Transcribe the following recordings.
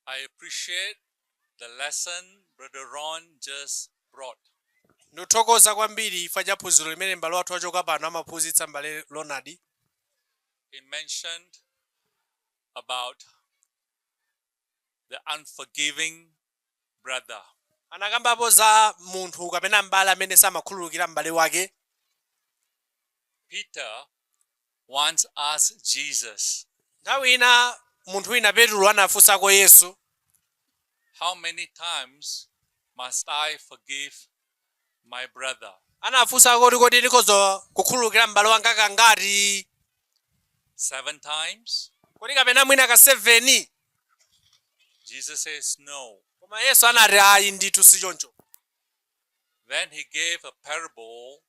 I appreciate the lesson Brother Ron just brought. ndithokoza kwambiri chifukwa cha phunziro limene m'bale wathu wachoka pano amaphunzitsa m'bale ronald He mentioned about the unforgiving brother. anakambapo za munthu kapena m'bale amene samakhululukira m'bale wake Peter once asked Jesus, nthawi ina munthu wina petulo anafunsako yesu How many times must I forgive my brother. Anafunsa kuti kodi ndikhoza kukhululukira m'bale wanga kangati? Seven times? Kodi kapena mwina ka seveni? Jesus says no. Koma Yesu anati ayi ndithu si choncho. Then he gave a parable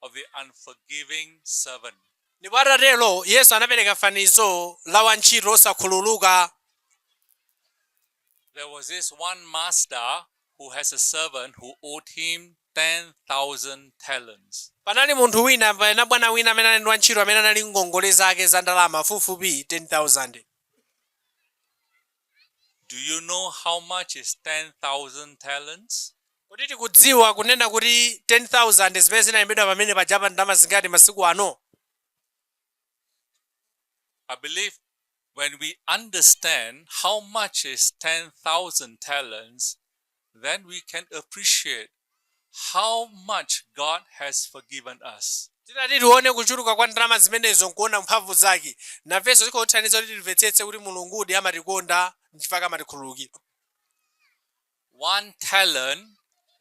of the unforgiving servant. Ndipo atatero, Yesu anapereka fanizo la wantchito osakhululuka. There was this one master who has a servant who owed him 10,000 talents. Panali munthu wina kapena bwana wina amene anali ndi wantchito amene anali ndi ngongole zake za ndalama fupifupi 10,000. Do you know how much is 10,000 talents? Kodi tikudziwa kunena kuti 10,000 zimene zinalembedwa pamene pajapa ndi ndalama zingati masiku ano? I believe when we understand how much is 10,000 talents, then we can appreciate how much God has forgiven us. titati tione kuchuluka kwa ndalama zimenezo nkuona mphamvu zake nafenso zikhoza kutithandiza kuti timvetsetse kuti mulungudi amatikonda nchifukwa amatikhululukira One talent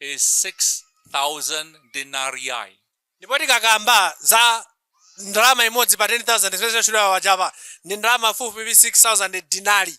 is 6,000 denarii. ndipo tikakamba za ndalama imodzi pa 10000 zimene zinatchulidwa pajapa ndi ndalama fupifupi 6000 dinari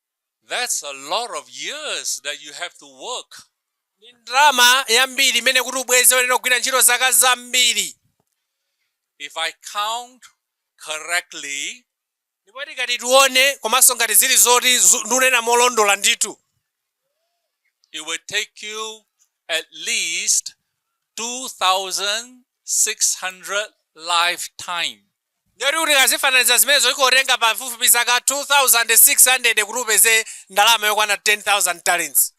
That's a lot of years that you have to work. Ndi ndalama yambiri imene kuti ubweze uyenera kugwira ntchito zaka zambiri. If I count correctly, ndipo tikati tione komanso ngati zili zoti zu- ndinena molondola ndithu it will take you at least 2,600 lifetime. Ndiye kuti tikazifananiza zimenezo ikhoza kutenga pafupifupi zaka 2,600 kuti upeze ndalama yokwana 10,000 talents.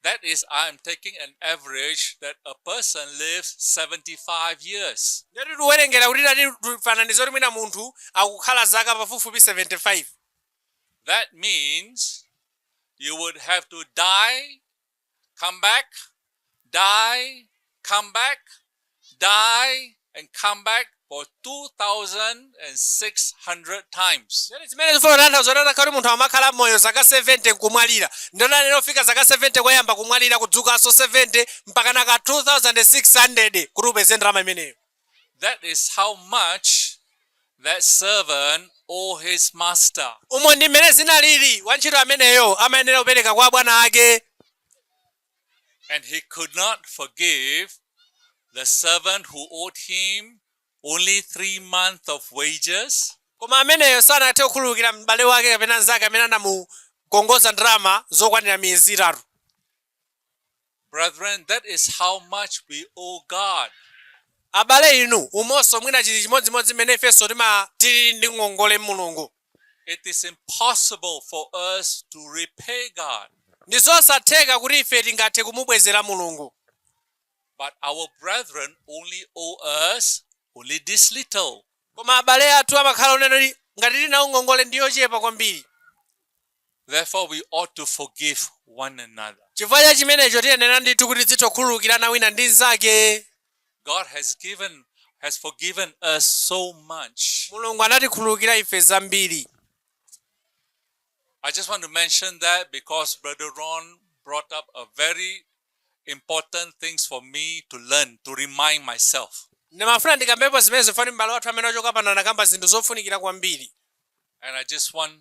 That is, I am taking an average that a person lives 75 years. Ndiye kuti tiwerengera kuti tati tifananize kuti mwina munthu akukhala zaka pafupifupi 75. That means you would have to die come back, die, come back, die, and come back for 2,600 times. zimene zifuna kutanthauza kuti atakhala kuti munthu amakhala moyo zaka 70 nkumwalira ndiye onani wofika zaka 70 koyamba kumwalira kudzukanso 70 mpakana ka 2600 kuti upeze ndalama imeneyo That is how much that servant owed his master. Umo ndi mmene zinalili, wantchito ameneyo amayenera kupereka kwa bwana ake. And he could not forgive the servant who owed him only three months of wages. Koma ameneyo sanathe kukhululukira m'bale wake kapena nzake amene anamukongoza ndalama zokwanira miyezi itatu. Brethren, that is how much we owe God. Abale inu, umonso mwina chili chimodzimodzi mmene ifenso timatili ndi ngongole Mulungu. It is impossible for us to repay God, Ndi zosatheka kuti ife tingathe kumubwezera Mulungu. but our brethren only owe us only this little. Koma abale athu amakhala onena ngati tili nawo ngongole ndi yochepa kwambiri. Therefore we ought to forgive one another. Chifukwa cha chimenecho tiyenera ndithu kuti tizitha kukhululukirana wina ndi nzake. God has given has forgiven us so much. Mulungu anatikhululukira ife zambiri. I just want to mention that because Brother Ron brought up a very important things for me to learn to remind myself. Ndimafuna ndikambepo zimenezi chifukwa m'bale wathu amene wachoka pano anakamba zinthu zofunikira kwambiri. And I just want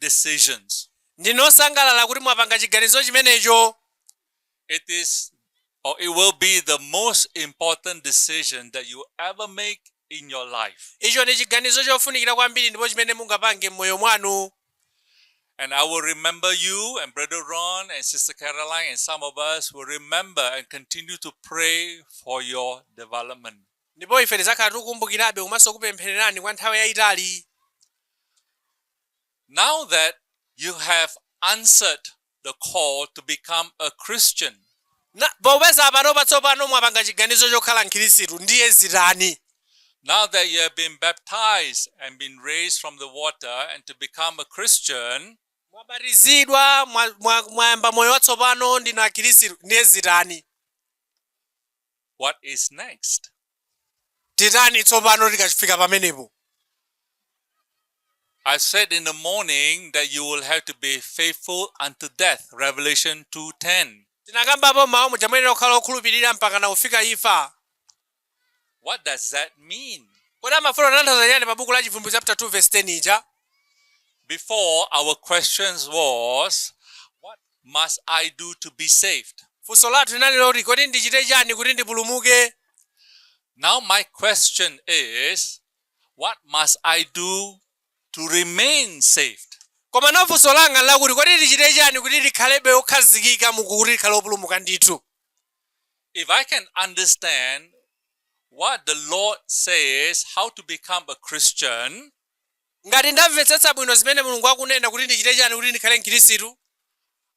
decisions. Ndine osangalala kuti mwapanga chiganizo chimenecho. It is or it will be the most important decision that you ever make in your life. Icho ndi chiganizo chofunikira kwambiri ndipo chimene mungapange m'moyo mwanu. And I will remember you and Brother Ron and Sister Caroline and some of us will remember and continue to pray for your development. Ndipo ife tizakhala tikukumbukirabe komanso kupemphererani kwa nthawi yaitali. Now that you have answered the call to become a Christian. Popeza panopa, tsopano, mwapanga chiganizo chokhala Mkhirisitu, ndiye zitani? Now that you have been baptized and been raised from the water and to become a Christian. Mwabatizidwa, mwayamba moyo watsopano, ndinu Akhirisitu, ndiye zitani? What is next? titani tsopano tikafika pamenepo I said in the morning that you will have to be faithful unto death. Revelation 2:10. tinakambapo mmawa muja muyenera kukhala okhulupirira mpakana kufika imfa What does that mean? kodi amafuna kutanthauza chiyani pa buku la chivumbulutso chapter 2 verse 10 ija Before our questions was what must I do to be saved? Funso lathu linali loti, Kodi ndichite chani kuti ndipulumuke? Now my question is, What must I do to remain saved? Komano funso langa nlakuti, Kodi ndichite chani kuti ndikhalebe okhazikika mu kuti tikhale opulumuka ndithu? If I can understand what the Lord says, how to become a Christian, Ngati ndamvetsetsa bwino zimene Mulungu akunena kuti ndichite chani kuti ndikhale mkhirisitu?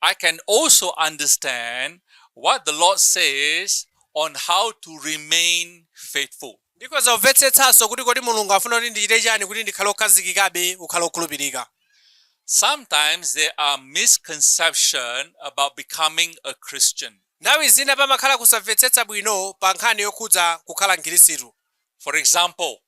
I can also understand what the Lord says on how to remain faithful. Ndikhoza kumvetsetsanso kuti kodi Mulungu afuna kuti ndichite chani kuti ndikhale okhazikikabe kukhala okhulupirika. Sometimes there are misconception about becoming a Christian. Nthawi zina pamakhala kusamvetsetsa bwino pa nkhani yokhudza kukhala mkhirisitu. For example,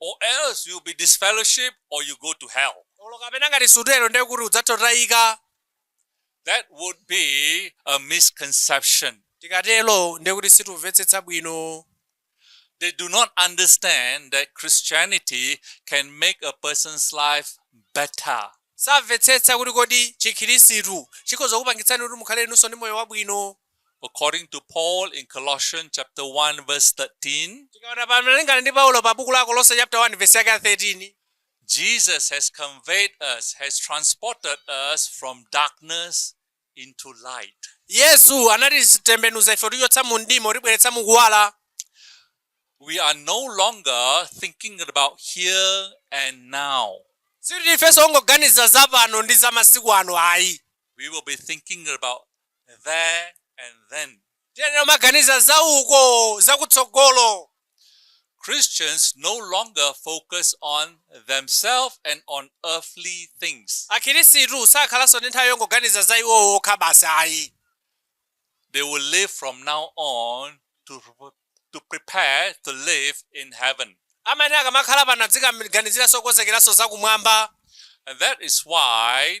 or else you'll be disfellowship or you go to hell. olo kapena ngati sutero ndiye kuti udzatotayika That would be a misconception. tikatero ndiye kuti situmvetsetsa bwino They do not understand that Christianity can make a person's life better. samvetsetsa kuti kodi chikhirisitu chikhoza kupangitsani kuti mukhale inunso ndi moyo wabwino according to Paul in Colossians chapter 1 verse 13, tikaona malingana ndi paulo pa buku la akolose chapter 1 verse yake ya 13 Jesus has conveyed us, has transported us from darkness into light. yesu anatitembenuza ife kutichotsa mu mdima kutibweretsa mu kuwala We are no longer thinking about here and now. sikuti ifenso ongoganiza za pano ndi za masiku ano ayi We will be thinking about there and then. Tiyenera kumaganiza za uko, za kutsogolo. Christians no longer focus on themselves and on earthly things. Akhirisitu sakhalanso ndi nthawi yongoganiza za iwo okha basi ayi. They will live from now on to, to prepare to live in heaven. Amene akamakhala pano adzikaganiziranso kukonzekeranso za kumwamba. And that is why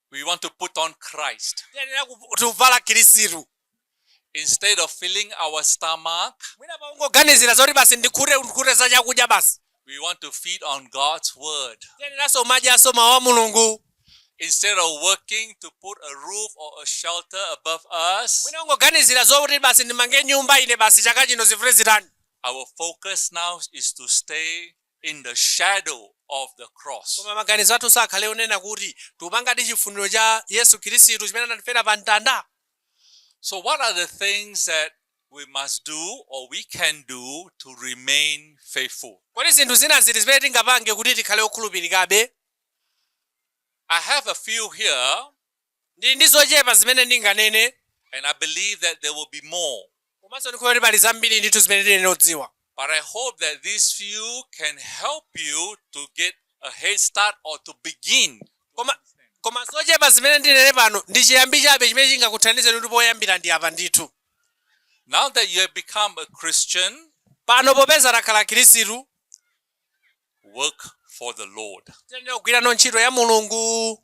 We want to put on Christ. Tiyenera kuvala Khristu. Instead of filling our stomach. Mwina pakungoganizira zoti basi ndikhute ndikhute za chakudya basi. We want to feed on God's word. Tiyeneranso madyanso mawu a Mulungu. Instead of working to put a roof or a shelter above us. Mwina ungoganizira zoti basi ndimange nyumba ine basi chaka chino zivule zitani. Our focus now is to stay in the shadow of the cross. Koma maganizo athu sakhale onena kuti tikupangadi chifuniro cha Yesu Khristu chimene anatifera pa mtanda. So what are the things that we must do or we can do to remain faithful? Kodi zinthu zina ziti zimene tingapange kuti tikhale okhulupirikabe? I have a few here. Ndili ndi zochepa zimene ndinganene. And I believe that there will be more. Komanso ndikhulupirira kuti pali zambiri ndithu zimene tiyenera kudziwa. But I hope that these few can help you to get a head start or to begin. Koma, koma zochepa zimene ndinene pano ndi chiyambi chabe chimene chingakuthandizeni kuti poyambira ndi apa ndithu. Now that you have become a Christian, pano popeza takhala Mkhristu, work for the Lord. Tiyenera kugwira ntchito ya Mulungu.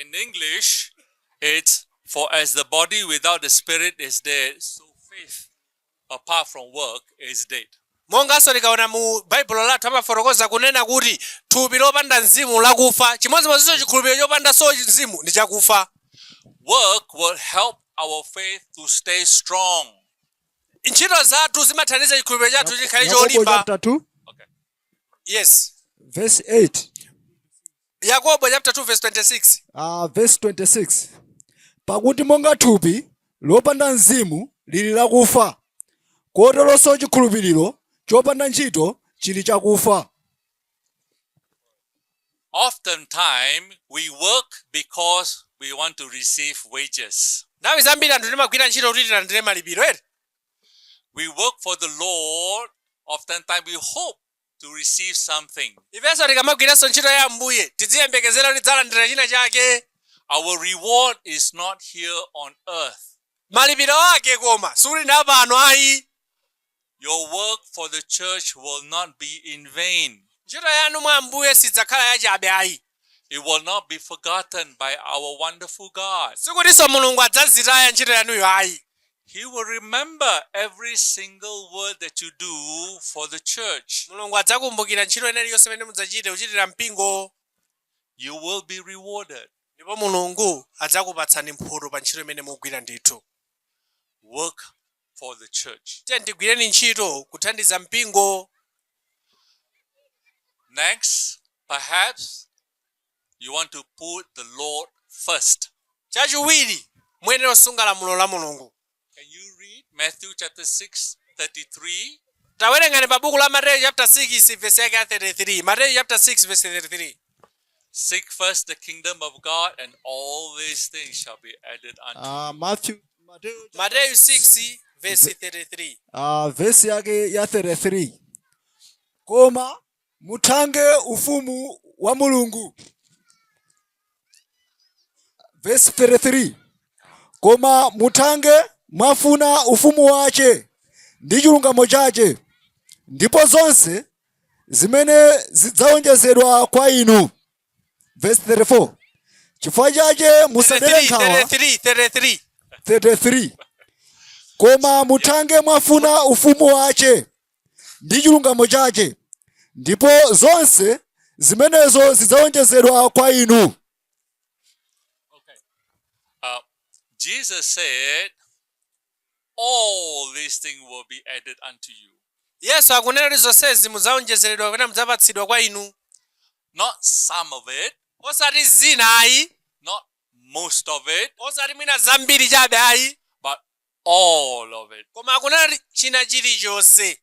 In English, it's for as the body without the spirit is dead, so faith apart from works is dead. monganso tikaona mu baibulo lathu amafotokoza kunena kuti thupi lopanda mzimu lakufa chimodzimodzinso chikhulupiriro chopandanso mzimu ndi chakufa Work will help our faith to stay strong. ntchito zathu zimathandiza chikhulupiriro chathu chikhale cholimba Yakobo chapter 2. yes verse 8 yakobo chapter 2 verse 26 uh, verse 26 pakuti monga thupi lopanda mzimu lili lakufa koteronso chikhulupiriro chopanda ntchito chili chakufa Oftentimes, we work because we want to receive wages. nthawi zambiri anthu timagwira ntchito kuti tilandire malipiro ere We work for the Lord, oftentimes we hope to receive something. ifenso tikamagwiranso ntchito ya ambuye tiziyembekezera kuti tidzalandira china chake Our reward is not here on earth. malipiro ake koma sikuli ndi apano ayi Your work for the church will not be in vain. ntchito yanu mwa ambuye sidzakhala yachabe ayi It will not be forgotten by our wonderful God. sikutinso mulungu adzazitaya ntchito yanuyo ayi He will remember every single work that you do for the church. mulungu adzakumbukira ntchito ina iliyonse imene mudzachite kuchitira mpingo You will be rewarded. ndipo mulungu adzakupatsani mphoto pa ntchito imene mugwira ndithu Work for the church. tiyeni tigwireni ntchito kuthandiza mpingo Next, perhaps you want to put the Lord first. chachiwiri muyenera kusunga lamulo la mulungu Can you read Matthew chapter 6, 33? tawerengani pa buku la mateyu chapter 6 vesi yake ya 33 mateyu chapter 6 vesi 33 Seek first the kingdom of God, and all these things shall be added unto Ah, you. Matthew, Matthew, mateyu 6 vesi 33 ah, vesi yake ya 33 koma muthange ufumu wa mulungu vesi 33 koma muthange mwafuna ufumu wache ndi chilungamo chache ndipo zonse zimene zidzawonjezedwa kwa inu. Verse 34. Chifukwa chache musadere nkhawa. 33, 33. Koma muthange mwafuna ufumu wache ndi chilungamo chache ndipo zonse zimenezo zidzawonjezedwa kwa inu. Okay. Uh, Jesus said all these things will be added unto you. Yesu akunena kuti zonsezi mudzaonjezeredwa kapena mudzapatsidwa kwa inu. Not some of it. Osati zina ayi. Not most of it. Osati mwina zambiri chabe ayi. But all of it. Koma akunena kuti china chilichonse.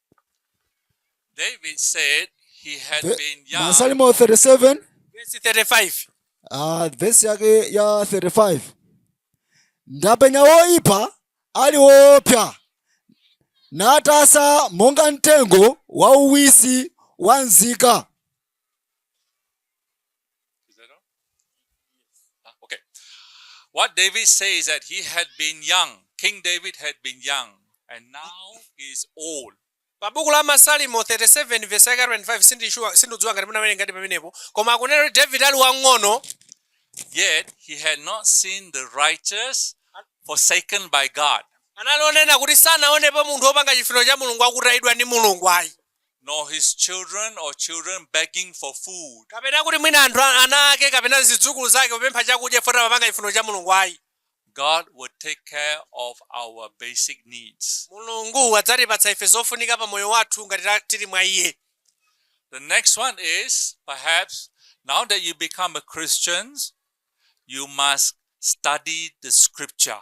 David said he had Ve- been young. masalimo 37 Verse 35. ah, vesi yake ya 35 ndapenya woipa ali woopsa natasa monga mtengo wauwisi wanzika Is that all? Ah, okay. What David says that he had been young. King David had been young and now he is old. pa buku la masalimo 37 vesi yake 25 sindishuwa sindidziwa ngati munawerenga ngati pamenepo koma akunena kuti david ali wang'ono Yet he had not seen the righteous forsaken by God. anali onena kuti sanaonepo munthu wopanga chifuniro cha mulungu akutayidwa ndi mulungu ayi nor his children or children begging for food. kapena kuti mwina anthu a- ana ake kapena zidzukulu zake kupempha chakudya chifukwa amapanga chifuniro cha mulungu ayi God will take care of our basic needs. mulungu adzatipatsa ife zofunika pa moyo wathu ngati ta- tili mwa iye The next one is perhaps now that you become a Christian, you must study the scripture.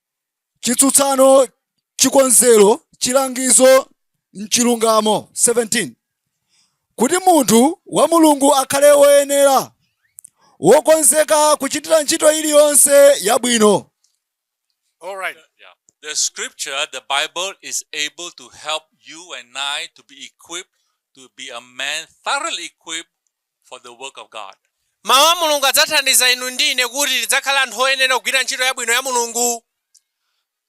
chitsutsano chikonzero chilangizo m'chilungamo 17 kuti munthu wa mulungu akhale woyenera wokonzeka kuchitira ntchito iliyonse yabwino All right. Yeah. The scripture, the Bible, is able to help you and I to be equipped to be a man thoroughly equipped for the work of God. Mawu a Mulungu adzathandiza inu ndi ine kuti tidzakhale anthu oyenera kugwira ntchito yabwino ya Mulungu.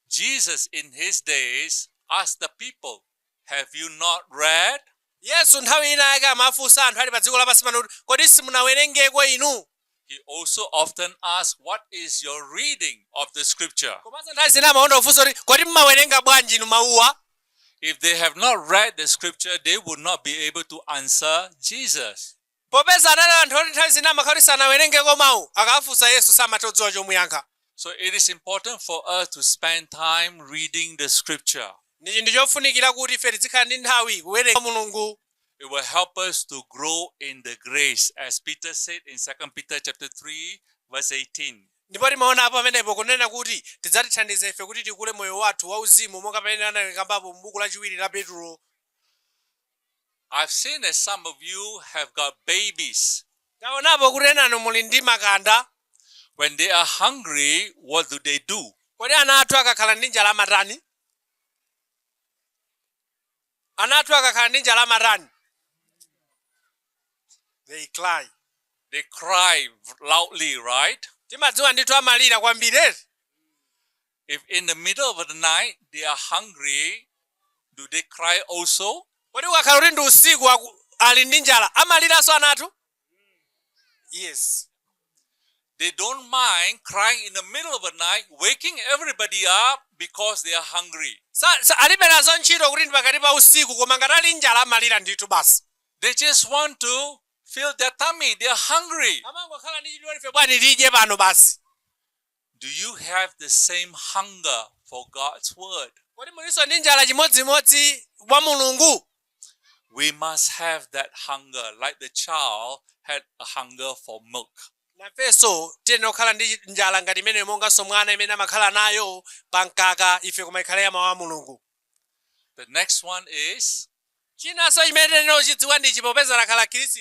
Jesus in his days asked the people, Have you not read? Yesu nthawi ina yake amafunsa anthu ali pa dziko lapansi pano kuti kodi simunawerengeko inu? He also often asks, What is your reading of the scripture? komanso nthawi zina amakonda kufunsa kuti kodi mmawerenga bwanji inu mawuwa If they have not read the scripture, they would not be able to answer Jesus. popeza anali anthu oti nthawi zina amakhala kuti sanawerengeko mawu akawafunsa yesu samatha kudziwa chomuyankha So it is important for us to spend time reading the scripture. ndi chinthu chofunikira kuti ife tizikhala ndi nthawi kuwerenga mulungu It will help us to grow in the grace, as Peter said in 2 Peter chapter 3, verse 18. ndipo timaona apo pamenepo kunena kuti tidzatithandiza ife kuti tikule moyo wathu wauzimu monga pamene anakambapo m'buku lachiwiri la petulo I've seen that some of you have got babies. taonapo kuti enanu muli ndi makanda When they are hungry, what do they do? kodi ana athu akakhala ndi njala amatani Ana athu akakhala ndi njala amatani? They cry. They cry loudly, right? Timadziwa ndithu amalira kwambiri eti. If in the middle of the night they are hungry, do they cry also? Kodi ukakhala kuti ndi usiku ali ndi njala amaliranso ana athu? Yes. They don't mind crying in the middle of the night, waking everybody up because they are hungry. Sa- sa- alibe nazo ntchito kuti ndi pakati pa usiku koma ngati ali njala amalira ndithu basi They just want to fill their tummy. They are hungry. amangokhala ndi chidwi ife bwanji tidye pano basi Do you have the same hunger for God's word? Kodi mulinso ndi njala chimodzimodzi wa Mulungu? We must have that hunger like the child had a hunger for milk. nafenso tiyenera kukhala ndi njala ngati imeneyo monganso mwana imene amakhala nayo pa mkaka ife koma ikhale ya mawu a mulungu The next one is chinanso chimene tiyenera kuchidziwa ndichi popeza lakhala khristu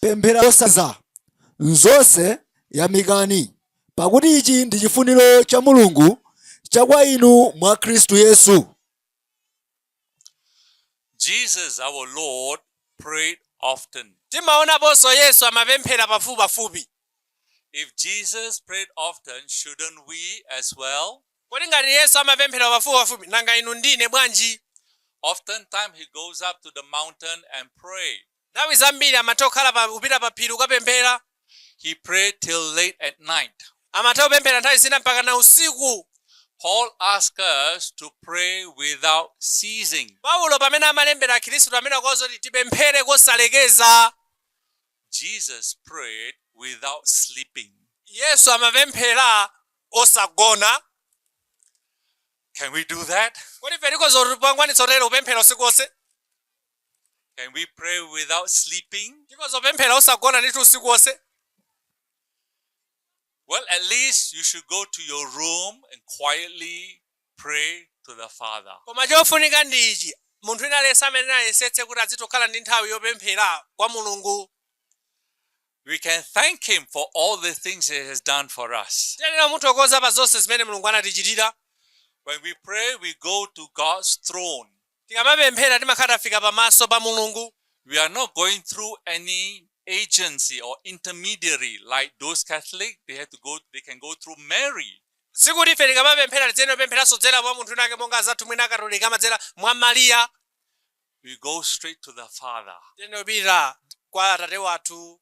Pempherani kosaleka. M'zonse yamikani, pakuti ichi ndi chifuniro cha Mulungu cha kwa inu mwa Khristu Yesu. Jesus our Lord prayed often. Timaonaponso Yesu amapemphera pafupipafupi. If Jesus prayed often, shouldn't we as well? Kodi ngati Yesu amapemphera pafupipafupi, nanga inu ndi ine bwanji? Oftentimes he goes up to the mountain and pray. Nthawi zambiri amatha kukhala pa, kupita pa phiri kukapemphera. He prayed till late at night. Amatha kupemphera nthawi zina mpakana usiku. Paul asks us to pray without ceasing. Paulo pamene amalembera Akhristu amene akuwauza kuti tipemphere kosalekeza. Jesus prayed without sleeping. Yesu amapemphera osagona. Can we do that? Kodi ife tikhoza kukwanitsa kutero kupemphera usiku wonse? Can we pray without sleeping? Tikhoza kupemphera osagona ndithu usiku wonse. Well, at least you should go to your room and quietly pray to the Father. Koma chofunika ndi ichi. Munthu wina aliyense amene ayesetse kuti azitokhala ndi nthawi yopemphera kwa Mulungu. We can thank him for all the things he has done for us. Tiyenera kumuthokoza pa zonse zimene Mulungu anatichitira. When we pray, we go to God's throne. Tikamapemphera timakhala tafika pa maso pa Mulungu. We are not going through any agency or intermediary like those Catholics, they have to go, they can go through Mary. Sikuti ife tikamapemphera tiyenera kupempheranso kudzera mwa munthu wina wake monga azathu mwina a Katolika amadzera mwa Maria. We go straight to the Father. Tiyenera kupita kwa Atate wathu.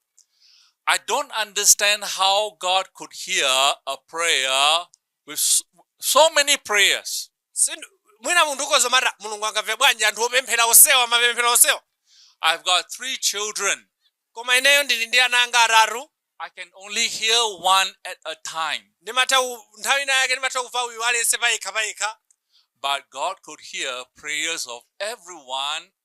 I don't understand how God could hear a prayer with so many prayers. Sin- mwina munthu ukhoza kumati mulungu angamve bwanji anthu opemphera onsewa mapemphero onsewa I've got three children. koma ineyo ndili ndi ana anga atatu I can only hear one at a time. ndimatha ku- nthawi ina yake ndimatha kumva uyu aliyense payekha payekha But God could hear prayers of everyone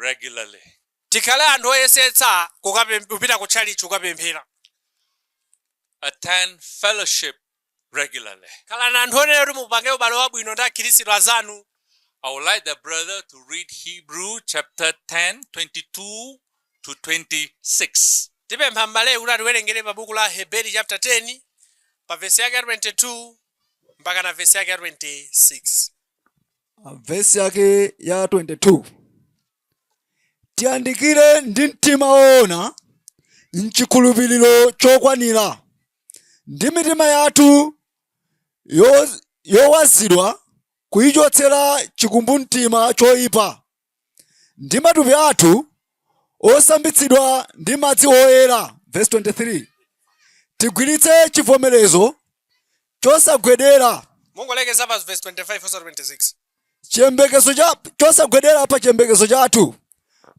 regularly. Tikhale anthu oyesetsa kupita ku tchalitchi kukapemphera. Attend fellowship regularly. Khalani anthu onena kuti mupange ubale wabwino ndi akhirisitu anzanu. I would like the brother to read Hebrew chapter 10, 22 to 26. Tipempha m'baleyu kuti atiwerengere pa buku la Aheberi chapter 10 pa vesi yake ya 22 mpaka na vesi yake ya 26. Ah, vesi yake ya 22 tiyandikire ndi mtima woona mchikhulupiriro chokwanira ndi mitima yathu yowazidwa kuyichotsera chikumbumtima choyipa ndi matupi athu osambitsidwa ndi madzi oyera, vesi 23, tigwiritse chivomerezo chosagwedera. Mungolekeza pa vesi 25 osati 26. Chiyembekezo cha chosagwedera pa chiyembekezo chathu,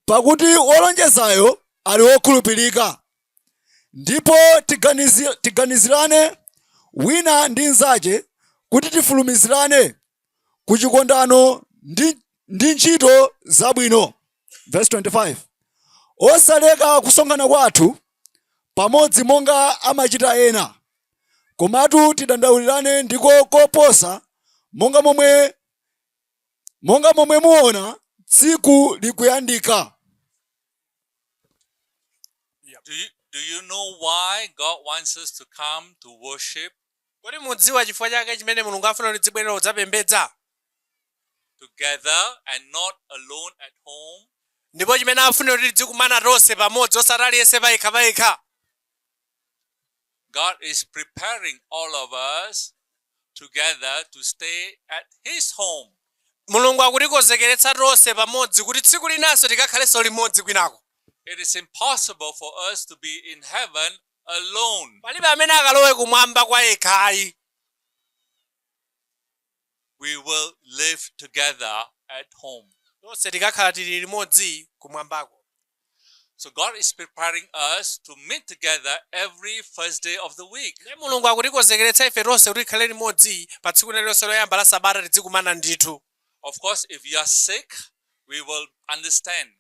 pakuti wolonjezayo ali wokhulupirika. Ndipo tiganizirane wina ndi nzache kuti tifulumizirane ku chikondano ndi, ndi ntchito zabwino verse 25 osaleka kusonkhana kwathu pamodzi monga amachita ena komatu tidandaulirane ndiko koposa monga momwe monga momwe muona tsiku likuyandika Do you, do you know why God wants us to come to worship Kodi mudziwa chifukwa chake chimene Mulungu afuna kuti tidzibwerera kudzapembedza. together and not alone at home? Ndipo chimene afunira kuti tidzikumana tonse pamodzi osati aliyense payekha payekha. God is preparing all of us together to stay at his home. Mulungu akutikonzekeretsa tonse pamodzi kuti tsiku linanso tikakhalenso limodzi kwinako. It is impossible for us to be in heaven alone. Palibe amene akalowe kumwamba kwa yekha ayi. We will live together at home. Tonse tikakhala tili limodzi kumwambako. So God is preparing us to meet together every first day of the week. Ndiye Mulungu akutikonzekeretsa ife tonse kuti tikhale limodzi pa tsiku lililonse loyamba la sabata tidzikumana ndithu. Of course, if you are sick, we will understand.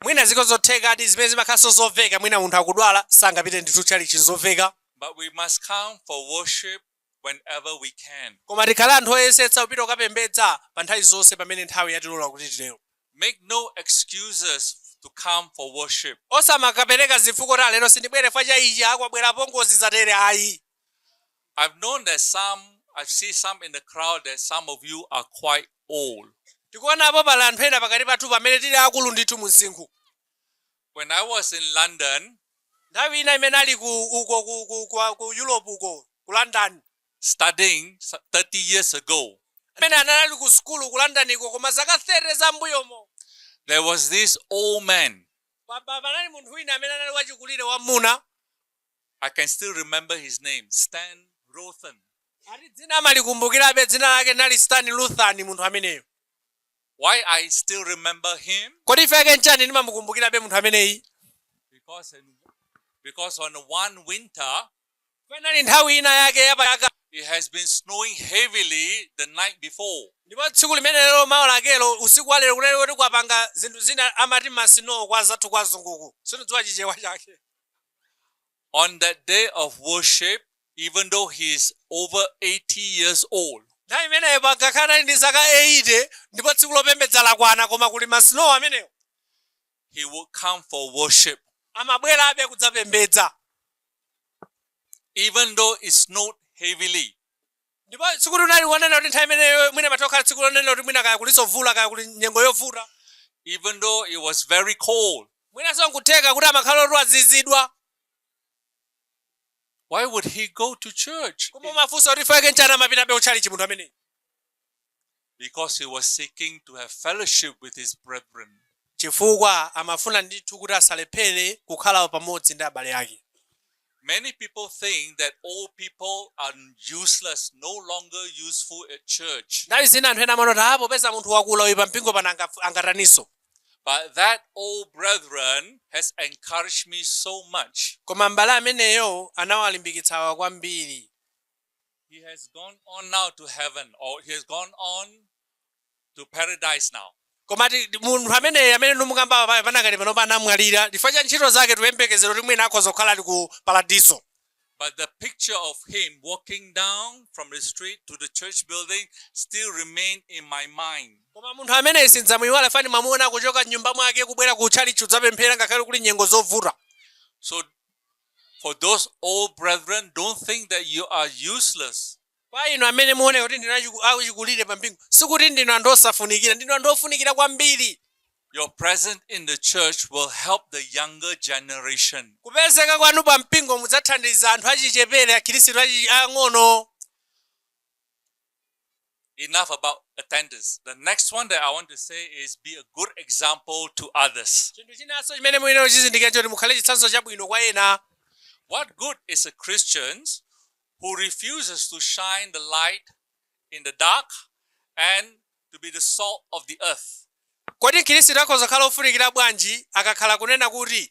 Mwina zilipo zothekadi zimene zimakhalanso zomveka mwina munthu akudwala sangapite ndithu tchalitchi nzomveka. But we must come for worship whenever we can. Koma tikhale anthu oyesetsa kupita kukapembedza pa nthawi zonse pamene nthawi yatilola kuti titero. Make no excuses to come for worship. Osamakapereka zifukwa kuti ah lero sindibwere fukwa cha ichi ah kwabwera apongozi zatere ayi. I've known that some, I see some in the crowd that some of you are quite old. Tikuonapo pali anthu ena pakati pathu pamene tili akulu ndithu mu msinkhu. When I was in London, nthawi ina imene ali ku uko ku, ku, ku, ku Europe uko ku London studying 30 years ago, amene anali ali ku sukulu ku London uko koma zaka 30 zam'mbuyomo there was this old man. pa- pa- panali munthu wina amene anali wachikulire wamwamuna I can still remember his name, Stan Ruthen. Ati dzina amalikumbukirabe dzina lake anali Stan Ruthen munthu ameneyo. Why I still remember him? Kodi chifukwa chake nchani ndimamukumbukirabe munthu ameneyi? Because in, because on one winter panali nthawi ina yake yapachaka it has been snowing heavily the night before. Ndipo tsiku limenelo mawa lakelo usiku wa lero kunali kuti kwapanga zinthu zina amati masinowo kwa anzathu kwa azunguku. Sindidziwa chichewa chake. On that day of worship, even though he is over 80 years old, nthawi imeneyo angakhale anali ndi zaka 80 ndipo tsiku lopembedza lakwana koma kuli ma snow amenewo he will come for worship. amabwerabe kudzapembedza Even though it snowed heavily, Ndipo tsikulo linali lonena kuti nthawi imeneyo mwina limatha kukhala tsiku lonena kuti mwina kaya kulinso mvula kaya kuli nyengo yovuta, even though it was very cold. Mwinanso nkutheka kuti amakhala oti azizidwa. Why would he go to church? Koma mafunso kuti chifukwa chake nchiyani amapitabe kutchalitchi munthu ameneyi? because he was seeking to have fellowship with his brethren. chifukwa amafuna ndithu kuti asalephere kukhala pamodzi ndi abale ake Many people think that old people are useless, no longer useful at church. nthawi zina anthu ena amanena kuti ah popeza munthu wakula uyu pa mpingo pano angaf- angataninso But that old brethren has encouraged me so much. koma m'bale ameneyo anawalimbikitsawa kwambiri He has gone on now to heaven, or he has gone on to paradise now. koma ti- ti- munthu ameneyi amene ndimukamba pa- panakali pano anamwalira chifukwa cha ntchito zake tikuyembekezera kuti mwina akhoza kukhala ali ku paradiso But the picture of him walking down from the street to the church building still remain in my mind. koma munthu ameneyi sindidzamuyiwala mmene ndimamuona kuchoka mnyumba mwake kubwera ku tchalichi kudzapemphera ngakhale kuli nyengo zovuta So For those old brethren, don't think that you are useless. Kwa inu amene mukuoneka kuti ndinu achiku- achikulire pa mpingo, sikuti ndinu anthu osafunikira, ndinu anthu ofunikira kwambiri. Your presence in the church will help the younger generation. Kupezeka kwanu pa mpingo mudzathandiza anthu achichepere, Akhristu achi- ang'ono. Enough about attendance. The next one that I want to say is be a good example to others. chinthu chinanso chimene muyenera kuchizindikira n'choti mukhale chitsanzo chabwino kwa ena What good is a Christian who refuses to shine the light in the dark and to be the salt of the earth? kodi mkhristu akhoza kukhala ofunikira bwanji akakhala kunena kuti